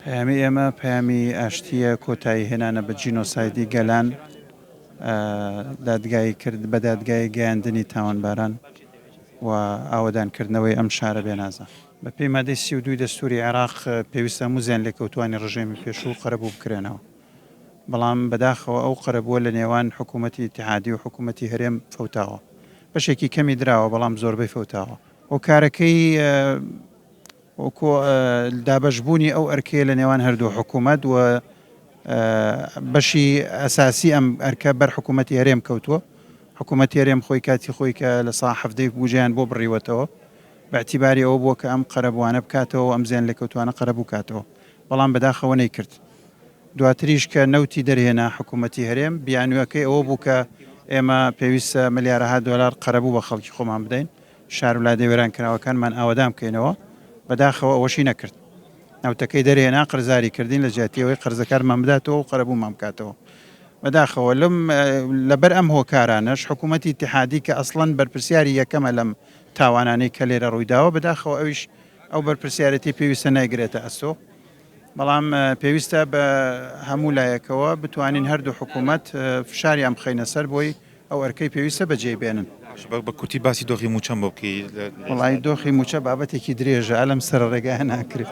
پەیامی ئێمە پەیامی ئاشتییە، کۆتایی هێنانە بە جینۆسایدی گەلان، دادگایی کرد بە دادگایی گەیاندنی تاوانباران و ئاوەدان کردنەوەی ئەم شارە بێنازە. بە پێی مادەی سی و دوو ی دەستووری عێراق پێویستە هەموو زیانلێکەوتووانی ڕژێمی پێشوو قەرەبوو بکرێنەوە، بەڵام بەداخەوە ئەو قەرەبووە لە نێوان حکوومەتی ئیتیحادی و حکوومەتی هەرێم فەوتاوە. بەشێکی کەمی دراوە بەڵام زۆربەی فەوتاوە. هۆکارەکەی وەکو دابەشبوونی ئەو ئەرکەیە لە نێوان هەردوو حکوومەت و بەشی ئەساسی ئەم ئەرکە بەر حکوومەتی هەرێم کەوتووە حکوومەتی هەرێم خۆی کاتی خۆی کە لە سا حەفتەی بوجیان بۆ بڕیوەتەوە بەعتیباری ئەوە بووە کە ئەم قەرەبووانە بکاتەوە ئەم زیان لێکەوتوانە قەرەبوو کاتەوە بەڵام بەداخەوە نەی کرد دواتریش کە نەوتی دەرهێنا حکوومەتی هەرێم بیانوەکەی ئەوە بوو کە ئێمە پێویستە ملیارەها دۆلار قەرەبوو بە خەڵکی خۆمان بدەین شار و لادێ وێرانکراوەکانمان ئاوەدان بکەینەوە، بەداخەوە ئەوەشی نەکرد. نەوتەکەی دەرهێنا، قەرزاری کردین لە جیاتی ئەوەی قەرزەکانمان بداتەوە و قەرەبوومان بکاتەوە. بەداخەوە لەبەر ئەم هۆکارانەش حکوومەتی ئیتیحادی کە ئەسڵەن بەرپرسیاری یەکەمە لەم تاوانانەی کە لێرە ڕووی داوە، بەداخەوە ئەویش ئەو بەرپرسیارێتی پێویستە نایگرێتە ئەستۆ. بەڵام پێویستە بە هەموو لایەکەوە بتوانین هەردوو حکوومەت فشاریان بخەینە سەر بۆی ئەو ئەرکەی پێویستە بەجێی بێنن. بە کورتی باسی دۆخی مووچەم بۆ بکەی لە ئێستا. وەڵایی دۆخی مووچە بابەتێکی درێژە لەم سەرەڕێگایە ناکرێ.